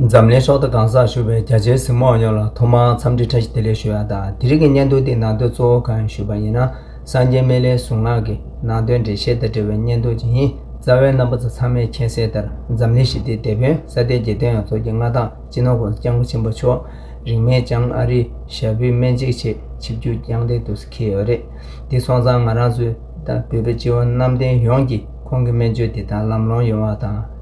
འཛམ་གླིང་ཕྱོགས་མཐའ་གང་སར་བཞུགས་པའི་རྒྱ་ཆེའི་གཟིགས་མོ་ཡོངས་ལ་ཐོག་མར་འཚམས་འདྲི་ཕྲ་ཞིབ་བདེ་ལེགས་ཞུ་ཡག་དང་དེ་རིང་གི་སྙན་ཐུང་དེའི་ནང་དོན་གཙོ་བོ་གང་ཡིན་ཞུས་པ་ཡིན་ན་སངས་རྒྱས་སྨན་བླའི་གཟུངས་སྔགས་ཀྱི་ནང་དོན་འགྲེལ་བཤད་དང་འབྲེལ་བའི་སྙན་ཐུང་ཅིག་ཡིན་རྩ་བའི་རྣམ་པ་ཚོ་ཚང་མས་མཁྱེན་གསལ་ལྟར་འཛམ་གླིང་ཞི་བདེའི་དེད་དཔོན་ས་སྟེང་རྒྱལ་སྟོན་ཡང་ཚོགས་ཀྱི་མངའ་ཐང་སྤྱི་ནོར་བྷོལ་སྐྱབས་མགོན་ཆེན་པོ་མཆོག་རིང་མེད་ཀྱང་ཨ་རིའི་ཞབས་བུའི་སྨན་གཅིག་ཆེད་ཆིབས་བསྒྱུར་རྐྱང་ལྡན་དུ་འཁེལ་ཡོད་རེད་དེ་སོང་ཙང་ང་རང་ཚོའི་དང་བོད་པའི་སྤྱི་བོ་གནམ་བསྟན་ཡོངས་ཀྱིས་ཁོང་གི་སྨན་བཅོས་དེ་དག་ལམ་ལྷོང་ཡོང་བ་དང།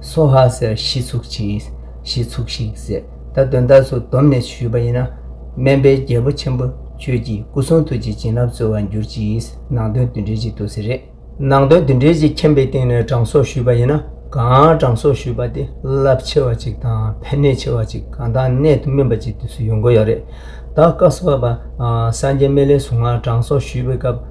སོ་ཧ་ཟེར་གཞི་ཚུགས་ཅིང་གཞི་ཚུགས་ཤིང་ཟེར་ད་དོན་དག་སུ་བསྡོམས་ནས་ཞུས་པ་ཡིན་ན། སྨན་པའི་རྒྱལ་པོ་ཆེན་པོ་ཁྱོད་ཀྱིས་སྐུ་གསུང་ཐུགས་ཀྱི་བྱིན་རླབས་སྩོལ་བར་འགྱུར་གྱིས་ནང་དོན་འདི་འགྲེལ་གྱི་དུ་ཟེར་རེད། ནང་དོན་འདི་འགྲེལ་གྱི་མཁྱེན་པའི་སྟེང་ནས་དྲང་སྲོག་ཞུས་པ་ཡིན་ན་གང་དྲང་སྲོག་ཞུས་པ་དེ་རླབས་ཆེ་བ་ཅིག་དང་ཕན་ནུས་ཆེ་བ་ཅིག་གང་དག་གནད་དུ་སྨིན་པ་ཅིག་དུས་སུ་ཡོང་གི་ཡོད་རེད་ད། བཀའ་སྤྱི་བབས་པ་སངས་རྒྱས་སྨན་བླའི་གཟུངས་སྔགས་དྲང་སྲོག་ཞུས་པའི་སྐབས།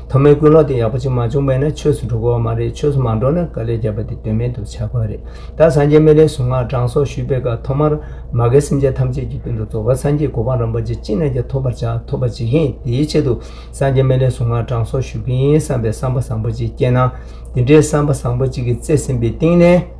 ཐོག་མའི་ཀུན་སློང་དེ་ཡག་པོ་ཅིག་མ་བྱུང་བས་ན་ཆོས་སུ་འགྲོ་དགོས་བ་མ་རེད་ཆོས་སུ་མ་འགྲོ་ན་དཀའ་ལས་རྒྱབ་པ་དེ་དོན་མེད་དུ་ཆགས་དགོས་རེད་ད་སངས་རྒྱས་སྨན་རའི་གཟུངས་སྔགས་གྲངས་སོགས་ཞུས་པའི་སྐབས་ཐོག་མར་མ་གའི་སེམས་ཅན་ཐམས་ཅད་ཀྱི་དོན་དུ་རྫོགས་པ་སངས་རྒྱས་གོ་འཕང་རམ་པ་ཅི་ཅི་ན་ཅ་ཐོབ་པར་བྱ་ཐོབ་པར་བྱེད་མཁན་དེའི་ཆེད་དུ་སངས་རྒྱས་སྨན་རའི་གཟུངས་སྔགས་གྲངས་སོགས་ཞུ་གིན་བསམ་པའི་བསམ་པ་བཟང་པོ་ཅིག་སྐྱེས་ན་དེ་འདྲའི་བསམ་པ་བཟང་པོ་ཅིག་གི་བརྩེ་སེམས་པའི་གཏིང་ནས།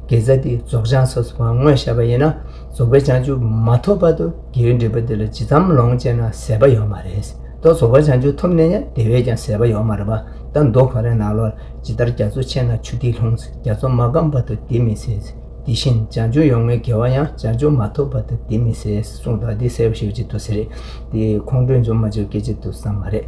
དགེ་རྩ་འདི་རྫོགས་བྱང་སོགས་སུ་བང་ངོས་བཤད་པ་ཡིན་ན་རྫོགས་པའི་བྱང་ཆུབ་མ་ཐོབ་བར་དུ་དགེ་བའི་འབྲས་བུ་འདི་ལ་ཇི་ཙམ་ལོངས་སྤྱད་ན་ཟད་པ་ཡོད་མ་རེད། མདོ་རྫོགས་པར་བྱང་ཆུབ་ཐོབ་ནས་ཡང་དེ་བས་ཀྱང་ཟད་པ་ཡོད་མ་རེད་པ་ད་མདོ་གང་རེ་ནང་ལོགས་ཇི་ལྟར་རྒྱ་མཚོ་ཆེ་ན་ཆུ་ཐིགས་ལྷུང་རྒྱ་མཚོ་མ་སྐམ་བར་དུ་འདི་མི་ཟད། དེ་བཞིན་བྱང་ཆུབ་ཡོང་ངེས་དགེ་བ་ཡང་བྱང་ཆུབ་མ་ཐོབ་བར་དུ་འདི་མི་ཟད་གསུངས་དང་འདི་གསལ་བོ་ཞིག་བརྗེད་ཐུབ་ས་རེད་དེ་ཁོང་ཁྲོས་འཇོག་མ་བྱོས་སྐད་ཆ་དུ་བསམ་མ་རེད།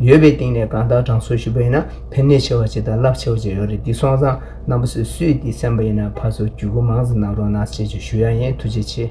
ཡོད་པའི་སྟེང་ནས་གང་དག་དྲང་སྲོང་ཞུ་བ་ཡིན་ན་ཕན་ནུས་ཆེ་བ་ཅི་དང་རླབས་ཆེ་བ་ཅི་ཡོད་རེད་འདི་སོང་ཙང་རྣམ་པ་སུས་སུས་འདི་གསན་པ་ཡིན་ན་ཕར་ཚུར་བརྒྱུད་སྐུར་མང་ཙམ་གནང་རོགས་གནང་ཆེ་ཆེ་ཞུ་ཡ་ཡིན་ཐུགས་རྗེ་ཆེ།